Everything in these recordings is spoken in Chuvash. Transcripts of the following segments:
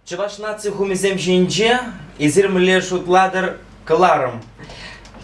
Чӑваш наци хумисем ҫинче эсир мӗнле шутлатӑр кӑларӑм.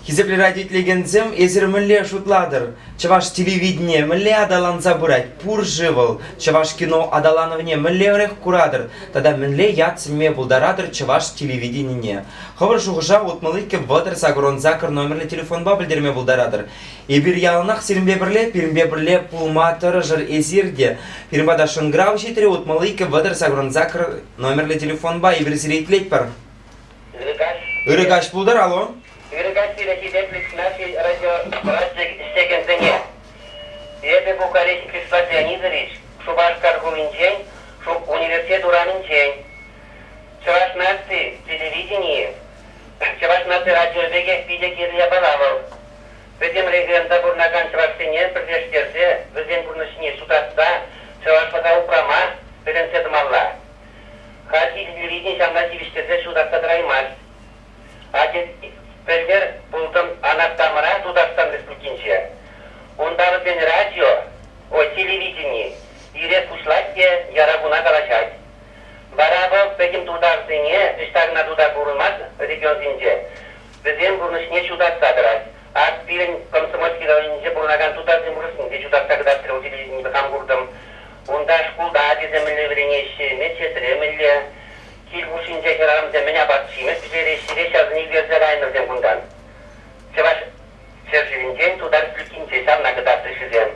Хисеплӗ радиотелекенсем, эсир мӗнле шутлатӑр? Чӑваш телевидение мӗнле аталанса пырать? Пур-ши вӑл? Чӑваш кино аталанӑвне мӗнлерех куратӑр? Тата мӗнле ят сӗнме пултаратӑр чӑваш телевиденине? Хӑвӑр шухӑша утмӑликкӗ вӑтӑр сакӑрӑн сакӑр номерлӗ телефонпа пӗлтерме пултаратӑр. Эпир яланах сирӗнпе пӗрле, пирӗнпе пӗрле пулма тӑрӑшӑр эсир те. Пирӗн пата шӑнкӑрав ҫитрӗ, утмалли иккӗ вӑтӑр сакӑрӑн сакӑр номерлӗ телефонпа эпир сире итлетпӗр. Ырӑ Ырӑ каҫ пултӑр, алло. Ырӑ каҫ пирӗнти Бедликснадзий радио ӗҫлекенсене. Эпӗ Бухарест Числа Леонидович, Шупашкар хулинчен, университет урамӗнчен. Чӑваш наци телевиденийӗ, Чӑваш наци радио пекех питӗ кирлӗ япала вӑл. Пӗтӗм регионта пурӑнакан чӑвашсене пӗрлештерсе вӗсен пурнӑҫне ҫутатса, чӑвашлӑха упрама вӗрентсе тӑмалла. Хальхи юридин ҫавна тивӗҫтерсе ҫутатса тӑраймасть. Атьӑр, пӗлтӗр пултӑм Анаттамӑра Тутарстан Республикинче. Унталӑксен радио, ой, телевидени ирех пуҫлать те яра куна калаҫать. Вара вӑл пӗтӗм тутарсене ӑҫта кӑна тута курӑнман регионсенче Вӗсен пурнӑҫне ҫутатса тӑрать. Ак пирӗн Комсомольски районӗнче пурӑнакан тутарсем урӑхсене те ҫутатса кӑтартрӗ, ку телевиденипе хам куртӑм. Унта шкулта ачасем мӗнле вӗренеҫҫӗ, медсестре мӗнле кил хушшинче хӗрарӑмсем мӗн апат-ҫимӗҫ пӗҫереҫҫӗ, хире ҫавсене ӳкерсе кайнӑ вӗсем кунтан. Чӑваш ҫӗршывӗнчен тутар ҫлюккинче ҫавна кӑтартрӗҫ вӗсем.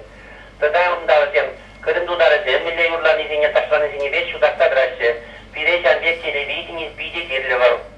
Тата унта вӗсем кӑтӑм тутарӗсем мӗнле юрланисене, ташланисенипе ҫутатса тӑраҫҫӗ. Пире ҫан пек телевидени питӗ кирлӗ вӑл.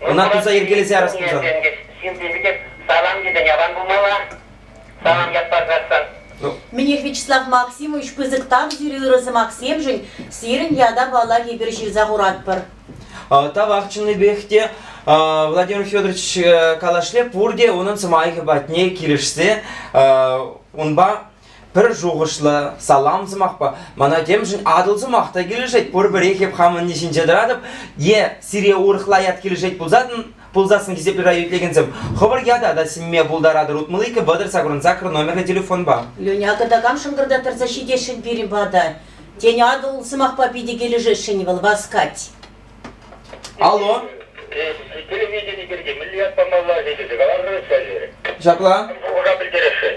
Ӑна туса йӗркелесе арас пулсан. Ҫын теми те салам тесен аван пулмалла. Салам ят парсассӑн. Ну. Мӗнех, Вячеслав Максимович, пысӑк тав сире ырӑ сӑмахсемшӗн. Сирӗн ята, паллах, эпир ҫырса хуратпӑр. Тавах чӑннипех те. Владимир Федорович калашле пурте унӑн сӑмахӗ патне килӗшсе унпа Пӗр шухӑшлӑ, салам сӑмахпа мана темшӗн Атӑл сӑмах та килӗшет. Пурпӗрех эп хамӑнни ҫинче тӑратӑп. Е сире урӑхла ят килӗшет пулсассӑн, пулсассӑн хисепре райо итлекенсем хӑвӑр ята та сӗнме пултаратӑр утмӑликкӗ вӑтӑр сакӑрӑн сакӑр номерлӗ телефонпа. Леня, кӑтакам шӑнкӑрта тӑрса ҫитесшӗн пирӗн пата. Тен, Атӑл сӑмахпа питӗ килӗшесшӗн-и вӑл, васкать. Алло. Телевидени пирки мӗнле ят памалла-ши тесе каларӑр-ҫке. Ҫапла. Шухӑша пӗлтересшӗн.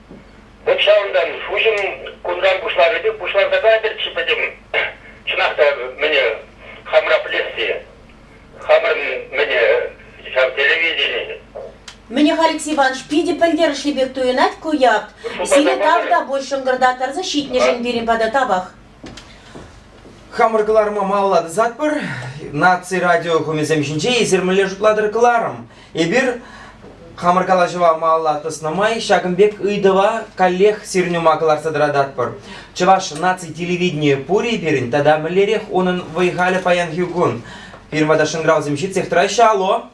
Вӑт ҫавӑнтан Шуҫӑм кунран пуҫларӗ те пуҫларса кайрӗччӗ пӗтӗм. Чӑнах та, мӗнӗ хамра пӗлесси? Хамӑрӑн мӗнӗ ҫав телевидени? Мӗнӗ Халикс Иванович питӗ пӗлтерӗшлӗ пек туйӑнать ку ят. Сире тав та пуль шӑнкӑрта кӗрсе ҫитнӗшӗн пирӗн пата тавах. Хамӑр кӑларӑма малалла тӑсатпӑр. Наци радио хумисем ҫинче эсир мӗнле шутлатӑр кӑларӑм. Эпир хамӑр калаҫӑва малалла тӑснӑ май ҫакӑн пек ыйтӑва каллех сирӗн ума кӑларса тӑрататпӑр. Чӑваш наци телевиденийӗ пур-и пирӗн тата мӗнлерех унӑн вӑй-халӗ паянхи кун? Пирӗн пата шӑнкӑравсем ҫитсех тӑраҫҫӗ. Алло.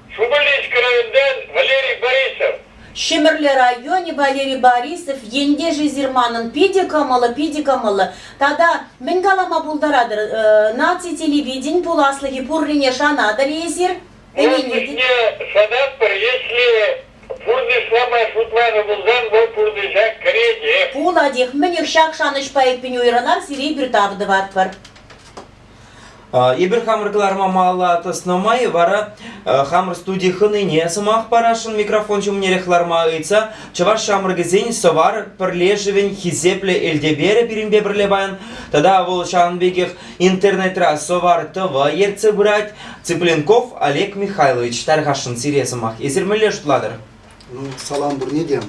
Шупашкарский районтан Валерий Борисов. Ҫӗмӗрле районӗ Валерий Борисов ентешӗсир манӑн питӗ кӑмӑллӑ, питӗ кӑмӑллӑ. Тата мӗн калама пултаратӑр, наци телевиденин пуласлӑхӗ пуррине шанатӑр-и эсир? Может быть, не шанатпӑр, если пурнӑҫлама шутланӑ пулсан вӑл пурнӑҫа кӗретех. Пулатех, мӗнех ҫак шанӑҫпа эппин уйрӑлар, сире пир тав тӑватпӑр. Эпир хамӑр кӑларма малалла тӑснӑ май вара хамӑр студи хӑнине сӑмах парасшӑн микрофон ҫумнерех ларма ыйтса чӑваш ҫамрӑкӗсен сӑвар пӗрлешӗвӗн хисеплӗ Элтеперӗ пирӗнпе пӗрле паян тата вӑл ҫавӑн пекех интернетра сӑвар тӑвӑ ертсе пырать Цыпленков Олег Михайлович тархасшӑн сире сӑмах эсир мӗнле шутлатӑр? Ну, салам пурне те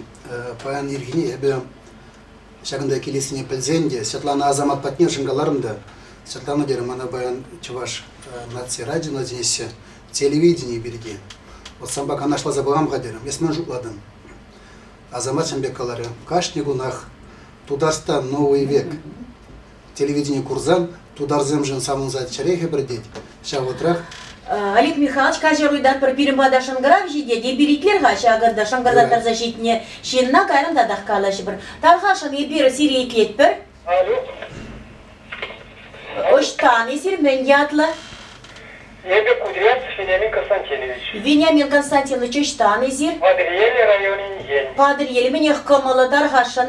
паян ирхине эпӗ Ҫакӑнта килессине пӗлсен те Светлана Асамат патне шӑнкаларӑм та, Светлана терӗ мана паян Чӑваш наци радиона чӗнеҫҫӗ телевидени пирки. Вот санпа канашласа пӑхам-ха терӗм, эс ман шутладӑн. Асамат ҫын пек каларӗ, кашни кунах Тутарстан новый век телевидени курсан тутарсемшӗн савӑнса чӗре хӗпӗртет. Ҫав вӑтрах Олег Михайлович каҫар уйта пӗр пирӗн пата шӑнкӑрав ҫитет, эпиритлер-ха ҫакӑнта шӑнкӑртаттарса ҫитнӗ ҫынна, кайран татах калаҫӑпӑр. Тархасшӑн, эпир сире итлетпӗр. Алло. Ӑҫтан эсир, мӗн ятлӑ? Эпӗ Кудряев Вениамин Константинович. Вениамин Константинович, ӑҫтан эсир? Патӑрьел районӗн ен. Патӑрьел, мӗнех кӑмӑллӑ, тархасшӑн.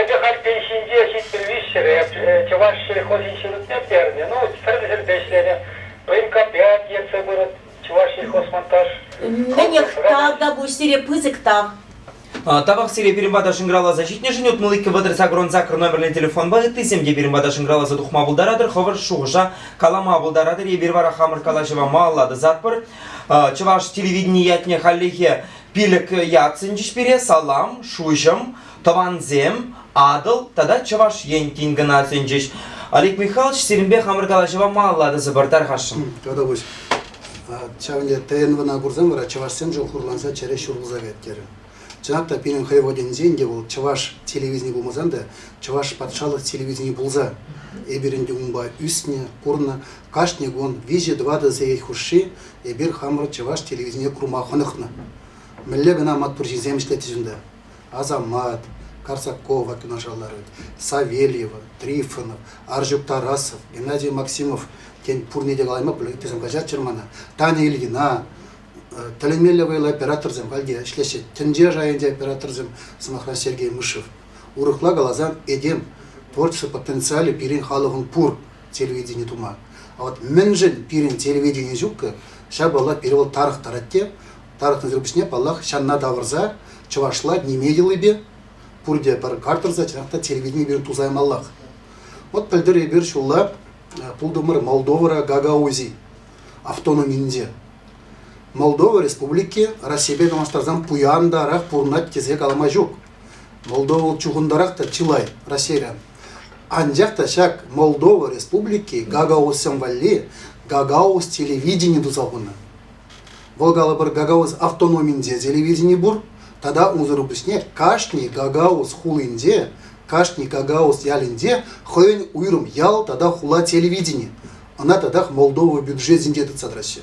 Эпӗ халь пин ҫинче ҫитмӗл-виҫҫӗре чӑваш сельхозӗн ҫурутне пернӗ. Ну, тӗрлӗ ҫӗрте ӗҫленӗ. Военкомпрят ертсе пырать Чӑвашсельхозмонтаж. Мӗнех, тав та пуҫ сире пысӑк тав. Тавах сире пирӗн пата шӑнкӑравласа ҫитнӗшӗн. Утмӑликкӗ вӑтӑр сакӑрӑн сакӑр номерлӗ телефонпа ыттисем те пирӗн пата шӑнкӑравласа тухма пултаратӑр, хӑвӑр шухӑша калама пултаратӑр. Эпир вара хамӑр калаҫӑва малалла тӑсатпӑр. Чӑваш телевиденийӗ ятне хальлӗхе Пилӗк ятсенчӗҫ пире салам, шуҫӑм, тӑвансем, Атӑл тата Чӑваш Ен тин кӑна сӗнчӗҫ. Олег Михайлович, сирӗнпе хамӑр калаҫӑва малаллатӑсӑр тархасшӑн. Татовуҫ, ҫавӑн пек ТНВна курсан вара чӑвашсемшӗн хурланса чӗре ҫурӑлса кайт-терӗ. Чӑнах та, пирӗн хӑйводенсен те вӑл чӑваш телевидени пулмасан та Чӑваш патшалӑх телевидени пулса эпир ӗнтӗ унпа ӳснӗ, курнӑ. Кашни кун виҫӗ-тӑватӑ сехет хушши Эпир хамӑр чӑваш телевиденине курма хӑнӑхнӑ. Мӗнле кӑна маттур ҫынсем ӗҫлетчӗҫ унта. Асамат, Карсакова юнашар ларать, Савельева, Трифонов, Арҫук Тарасов, Геннадий Максимов, тен, пурне те калаймӑп, ыйтусем каҫаччӑр мана, Таня Ильина, тӗлӗнмелле вӑйлӑ операторсем халь те ӗҫлеҫҫӗ. Тӗнче шайӗнче операторсем, сӑмахран, Сергей Мышев. Урӑхла каласан, этем творчество потенциалӗ пирӗн халӑхӑн пур. телевидени тума. А вот мӗншӗн пирӗн телевидени ҫуккӑ, ҫапала пире вӑл тарӑхтарать те. Тарӑхнӑ сирпӗҫне, паллах, ҫанна тавӑрса, чӑвашла ниме йӑлипе, пурте пӗр картӑрса, чӑнах та телевидени пирӗн тусаймаллах. Вот пӗлтӗр эпир ҫулла пултӑмӑр Молдовӑра Гагаузи автономинче. Молдова Республики Россипе танлаштарсан пуяндарах пурӑнать тесе калама ҫук. Молдова чухӑндарах та чылай Россире. Анчах та ҫак Молдова Республики Гагаузсем валли Гагауз телевидени туса хунӑ. Вӑл калӑпӑр Гагауз автономинче телевидени пур, тата унсӑр пуҫне кашни Гагауз хулинче, кашни Гагауз ялӗнче хӑйӗн уйрӑм ял тата хула телевидени. Ӑна татах Молдова бюджетӗнче тытса тӑраҫҫӗ.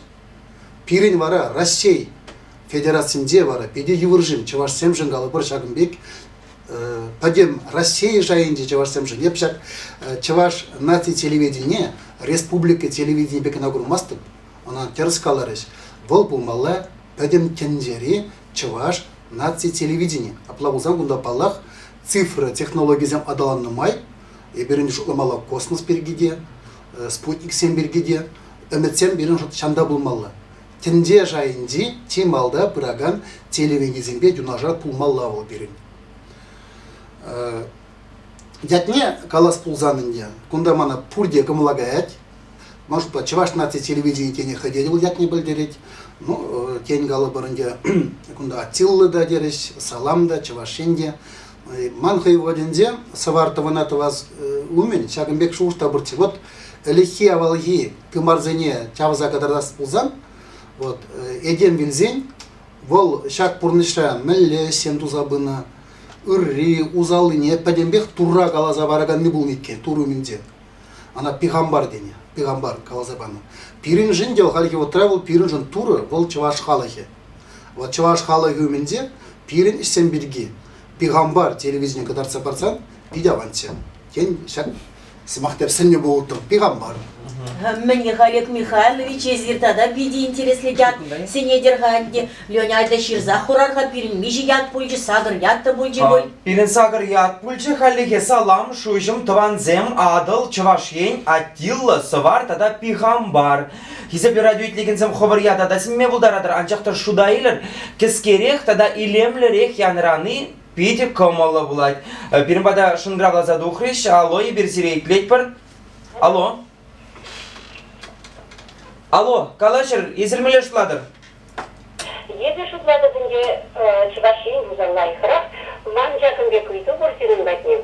Пирӗн вара Раҫҫей Федерацинче вара питӗ йывӑршӑн чӑвашсемшӗн калӑпӑр ҫакӑн пек пӗтӗм Раҫҫей шайӗнчи чӑвашсемшӗн эп ҫак чӑваш наци телевиденине республика телевиденипе кӑна курмастӑп, ӑна тӗрӗс каларӗҫ, вӑл пулмалла пӗтӗм тӗнчери чӑваш наци телевидени. Апла пулсан кунта паллах цифра технологийӗсем аталаннӑ май эпир шутламалла космос пирки те, спутниксем пирки те ӗмӗтсем пирӗн шут ҫанта пулмалла. Тӗнче шайӗнчи чи малта пыракан телевиденисемпе юнашар пулмалла вӑл пирӗн. Ятне калас пулсан ӗнтӗ, кунта мана пурте кӑмӑла каять. Ман шутпа Чӑваш наци телевиденийӗ тене хӑйте вӑл ятне пӗлтерет. Ну, тен калӑпӑр ӗнтӗ, кунта Аттилла та терӗҫ, Салам та, Чӑваш Ен те. Ман хӑй воденсем сӑвар тӑвӑна тӑвас умӗн ҫакӑн пек шухӑш та пурччӗ. Вот ӗлӗкхи авалхи тымарсене чавса кӑтартас пулсан, вот этем вилсен, вӑл ҫак пурнӑҫра мӗнле ӗҫсем туса пынӑ, ырри, усаллине пӗтӗмпех Турра каласа параканни пулнӑ иккен, Тур умӗнче. Ана пихамбар тенӗ, пихамбар каласа панӑ. Пирӗншӗн те хальхи вӑхӑтра вӑл пирӗншӗн Турӑ, вӑл чӑваш халӑхӗ. Вӑл чӑваш халӑхӗ умӗнче пирӗн ӗҫсем пирки пихампар телевидение кӑтартса парсан питӗ аванччӗ. Тен, ҫак сӑмахсем сӗннӗ пултӑр пихампар. Мӗн Олег Михайлович, эсир тата питӗ интереслӗ ят сӗнетӗр-ха ӗнтӗ. Леня атя ҫырса хурар-ха пирӗн миҫе ят пулчӗ, сакӑр ят та пулчӗ пуль? Пирӗн сакӑр ят пулчӗ хальлӗхе салам, шуҫӑм, тӑвансем, Атӑл, Чӑваш Ен, Аттилла, Сӑвар тата Пихампар. Хисеп юрату итлекенсем хӑвӑр ята та сӗнме пултаратӑр, анчах та шута илӗр, кӗскерех тата илемлӗрех янрани питӗ кӑмӑллӑ пулать. Э, пирӗн пата шӑнкӑравласа тухрӗҫ. Алло, эпир сире итлетпӗр. Алло. Алло, калаҫӑр, эсир мӗнле шутлатӑр? Эпӗ шутлатӑп ӗнтӗ, Чӑваш Ен пулса лайӑхрах. Ман ҫакӑн пек ыйту пур сирӗн патне.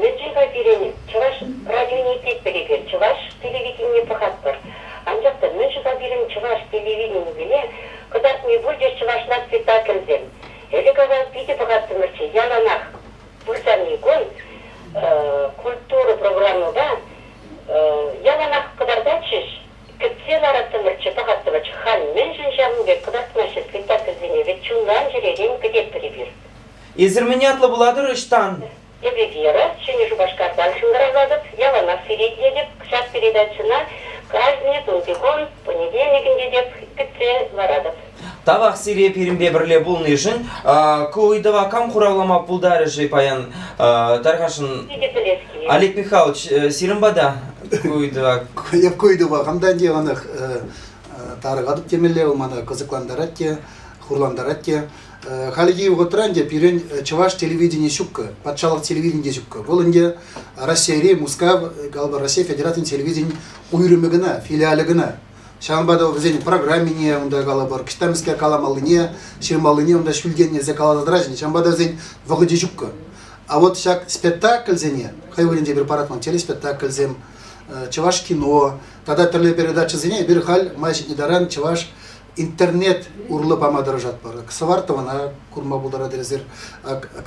Мӗншӗн-ха пирӗн Чӑваш радионе тетпӗр эпир, чӑваш телевиденине пӑхатпӑр. Анчах та мӗн-ши-ха пирӗн чӑваш телевиденийӗсене кӑтартни пур те чӑвашла спектакльсем? Ӗлӗк-авал питӗ пӑхаттӑмӑрччӗ, яланах. Пырсан-и кун культура программӑпа яланах кӑтартатчӗҫ, Кӗтсе лараттӑмӑрччӗ, пӑхаттӑмӑрччӗ, хан мӗншӗн ҫавӑн пек кӑтартмаҫҫӗ спектакльсене, вӗт чунран чӗререн кӗтетпӗр эпир. Эсир мӗн ятлӑ пулатӑр ӑҫтан? Эпӗ Вера, Ҫӗнӗ Шупашкартан ҫунтарӑнатӑп, яланах сире итлетӗп, ҫак передачӑна каждый кунти кун, понедельник ӗнтӗ теп, кӗтсе ларатӑп. Тавах сире пирӗнпе пӗрле пулнишӗн. Ку ыйтӑва кам хуравлама пултарӗ-ши паян? Тархасшӑн. Олег Михайлович, э, сирӗн пата ку ыйтӑва. Ку ыйтӑва хамтан те ӑнах э, тарӑхатӑп темелле вӑл мана кӑсӑклантарать те, хурлантарать те. Э, хальхи вӑхӑтра ӗнтӗ пирӗн чӑваш телевиденийӗ ҫуккӑ, патшалӑх телевиденийӗ ҫуккӑ. Вӑл ӗнтӗ Раҫҫейри Мускав, галпа Раҫҫей Федерацийӗн телевиденийӗн уйрӑмӗ кӑна, филиалӗ кӑна. Ҫавӑнпа та вӗсен программине унта калӑпӑр, кӗҫтамскер каламаллине, ҫырмаллине унта ҫӳлтен илсе каласа тӑраҫҫӗ. Ҫавӑнпа та вӗсен вӑхӑчӗ ҫуккӑ. А вот ҫак спектакльсене, хӑй вырӑнӗнче эпир паратман телеспектакльсем, чӑваш кино тата тӗрлӗ передачӑсене эпир халь май ҫитнӗ таран чӑваш интернет урлӑ пама тӑрӑшатпӑр. Сӑвар тӑвана курма пултарать эсир,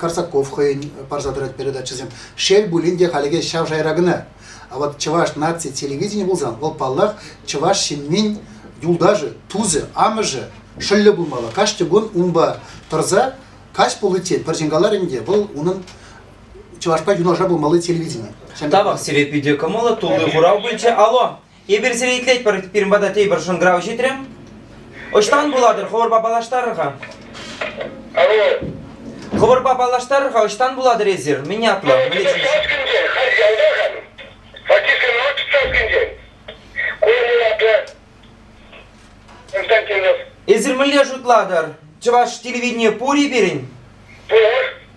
Карсаков хӑйӗн парса тӑрать передачӑсем. Шел пулин те, халӗ ҫав шайра кӑна. А вот чӑваш наци телевиденийӗ пулсан, вӑл паллах, чӑваш ҫыннин юлташӗ, тусӗ, амӑшӗ шӑллӗ пулмалла. Каждый кун унпа тӑрса каҫ пуличчен пӗр ҫын каларӗн те вӑл унӑн чӑвашпа юнашар пулмалли телевидени. Тавах сире питӗ кӑмӑллӑ, тулли хурав пулчӗ. Алло. Эпир сире итлетпӗр, пирӗн пата тепӗр шӑнкӑрав ҫитрӗ. Ӑҫтан пулатӑр, хӑвӑрпа паллаштарӑр-ха. Алло. Хӑвӑрпа паллаштарӑр-ха, ӑҫтан пулатӑр эсир? Мӗн ятлӑ? Фатисен Саскинчен, халь ялта-хан. Фатисен Мӑч Саскинчен. Курнӑ ятлӑ. Константинов. Эсир мӗнле шутлатӑр? Чӑваш телевиденийӗ пур-и пирӗн? Пур.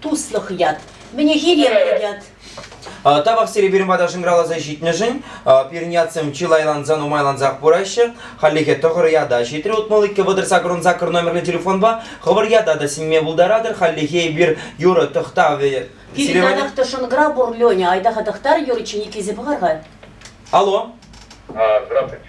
Туслӑх ят. Мӗнехире ят. Тавах сире пирӗн пата шӑнкӑравласа ҫитнӗшӗн. Пирӗн ятсем чылайланса, нумайлансах пыраҫҫӗ. Хальлӗхе тӑхӑр ята ҫитрӗ. Утмӑл иккӗ вӑтӑр сакӑрӑн сакӑр номерлӗ телефонпа хӑвӑр ята та сӗнме пултаратӑр. Хальлӗхе эпир юрӑ тӑхтавӗ. Пирӗн янахта шӑнкӑрав пур, Леня. Айтаха тӑхтар, Юриче Никисе пӑхар-ха. Алло. Здравствуйте.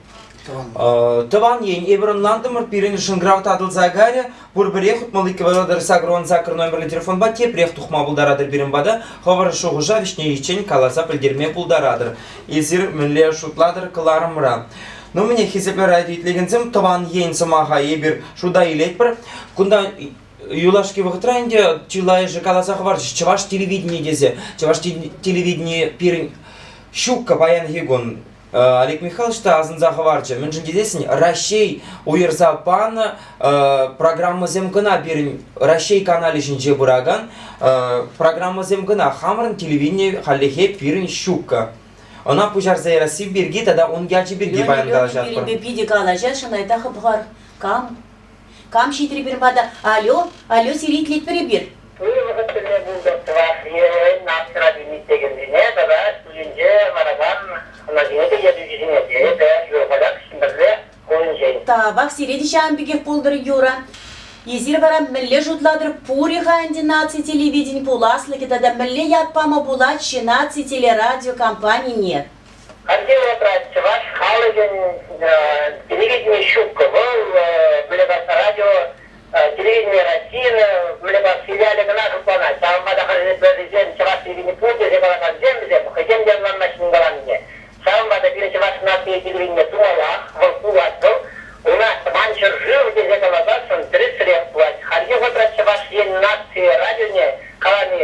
Тӑван ен, эпир ӑнлантӑмӑр, пирӗн шӑнкӑрав татӑлса кайрӗ. Пурпӗрех утмалли кӑвайла тӑрса курӑвӑн сакӑр номерлӗ телефонпа тепрех тухма пултаратӑр пирӗн пата, хӑвӑр шухӑша вӗҫнеллеччен каласа пӗлтерме пултаратӑр. Эсир мӗнле шутлатӑр кӑларӑмра? Ну, мӗне хисеплӗ радио итлекенсем, тӑван ен сӑмаха эпир шута илетпӗр. Кунта юлашки вӑхӑтра ӗнтӗ чылайӑшӗ каласа хӑварчӗҫ чӑваш телевиденийӗ тесе. Чӑваш телевиденийӗ пирӗн ҫуккӑ паянхи кун. Олег Михайлович та асӑнса хӑварчӗ, мӗншӗн тесен Раҫҫей уйӑрса панӑ программӑсем кӑна пирӗн Раҫҫей каналӗ ҫинче пыракан программӑсем кӑна. Хамӑрӑн телевидени хальлӗхе пирӗн ҫуккӑ. Ӑна пуҫарса ярасси пирки тата ун ячӗ пирки паян калаҫатпӑр. питӗ калаҫасшӑн айта хӑпхар. Кам? Кам ҫитрӗ пир мата? Алло, алло, сивӗтлетпӗр эпир. Пуҫ вӑхӑт тӗлне пултӑр Чӑваш Енӗн нацради-митт текенсене тата Туйӗнче ларакан хӑнасене те ертӳҫӗсене, тейӗ те Юрпатак Ҫӗмпӗрле хулинчен. Тавах сире те ҫавӑн пекех пултӑр, Юра. Эсир вара мӗнле шутлатӑр пур-и-ха ӗнтӗ наци телевиденин пуласлӑхӗ тата мӗнле ят пама пулать-ши наци телерадиокомпанине? Хальхи вӑхӑтра чӑваш халӑхӗн телевидение ҫуккӑ. Вӑл Выльӑкас радио телевидение Российӑн Выльӑкас филиалӗ кӑна шутланать. Ҫавӑнпа та хӑшӗсем чӑваш телевидени пур тесе калакансем вӗсем хӑйсем те ӑнланмаҫҫӗ мӗн каланине. Ҫавӑнпа та пирӗн чӑваш наци телевиденийӗ тумаллах, вӑл пулать вӑл. Ӑна Тӑван ҫӗршыв тесе каласассӑн тӗрӗсрех пулать. Хальхи вӑхӑтра Чӑваш Ен наци радионе калани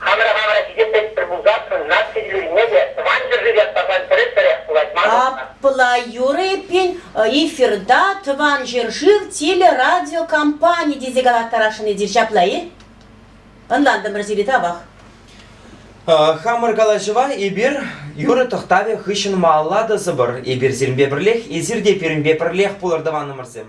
Хамӑра хамӑра хисеплетпӗр пулсассӑн наци юррине те Тӑван ҫӗршыв ят парсан пӗрешпӗрех пулать мар. Апла юрӑ эппин эфирта Тӑван ҫӗршыв телерадиокомпани тесе калаттарасшӑн эсир ҫапла-и? Ӑнлантӑмӑр сире тавах. Хамӑр калаҫӑва эпир юрӑ тӑхтавӗ хыҫҫӑн малалла тӑсӑпӑр. Эпир сирӗнпе пӗрлех, эсир те пирӗнпе пӗрлех пулӑр тӑванӑмӑрсем.